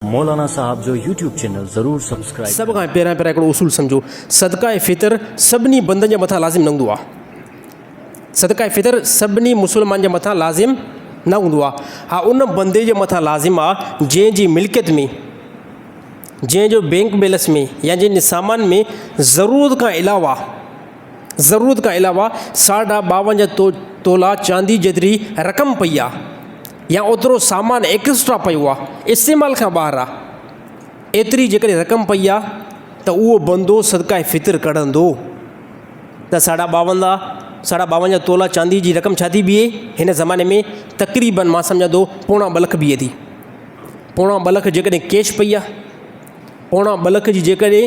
مولانا صاحب جو YouTube channel ضرور سبسڪرائيب سڀ کان پهريان پهريان هڪڙو اصول سمجهو صدقه فطر سڀني بندن جي مٿان لازم نه هوندو آهي صدقه فطر سڀني مسلمان جي مٿان لازم نه هوندو آهي ها ان بندي جي مٿان لازم آهي جنهن جي ملڪيت ۾ جنهن جو بينڪ بيلنس ۾ يا جنهن جي سامان ۾ ضرورت کان علاوه ضرورت کان علاوه ساڍا ٻاونجهه تولا چاندي جيتري رقم پئي آهي يا اوترو سامان ايڪسٽرا پيو آ استعمال کان ٻاهر آ ايتري جيڪڏهن رقم پئي آ ته اهو بندو صدقه فطر ڪڍندو ته ساڍا ٻاوندا ساڍا ٻاونجا تولا چاندي جي رقم ڇا ٿي بيهي هن زماني ۾ تقريبن مان سمجهان ٿو پوڻا ٻه لک بيهي ٿي پوڻا ٻه لک جيڪڏهن ڪيش پئي آ پوڻا ٻه لک جي جيڪڏهن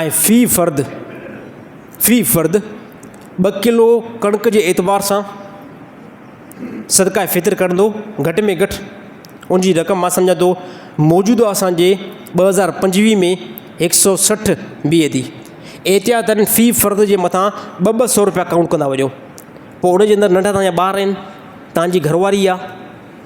۽ في فرد في فرد ٻه ڪلو ڪڻڪ جي اعتبار سان صدقه فطر ڪرندو گهٽ ۾ گهٽ ان جي رقم مان سمجهان ٿو موجوده اسانجي ٻه هزار پنجويهه ۾ هڪ سو سٺ بيهي ٿي احتياطن في فرد جي مٿان ٻه ٻه سو روپيا ڪائونٽ ڪندا وڃو پوء ان جي اندر ننڍا تانجا ٻار آهن تانجي گهرواري آهي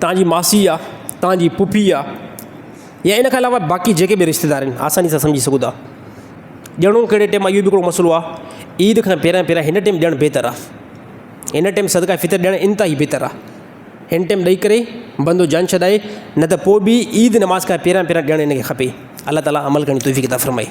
توهان جي ماسي آ، توهان جي پڦي آ يا ان کان علاوه باقي جيڪي به رشته دار آهن آساني سان سمجهي سگهو ٿا. ڏيڻو ڪهڙي ٽيم اهو به هڪڙو مسئلو آ، عيد کان پهريان پهريان هن ٽيم ڏيڻ بهتر آ. هن ٽيم صدقه فطر ڏيڻ انتهائي بهتر آ. هن ٽيم ڏئي ڪري بندو جان ڇڏائي نه ته پوء به عيد نماز کان پهريان پهريان ڏيڻ هن کي کپي. الله تعاليٰ عمل ڪرڻ جي توفيق عطا فرمائي.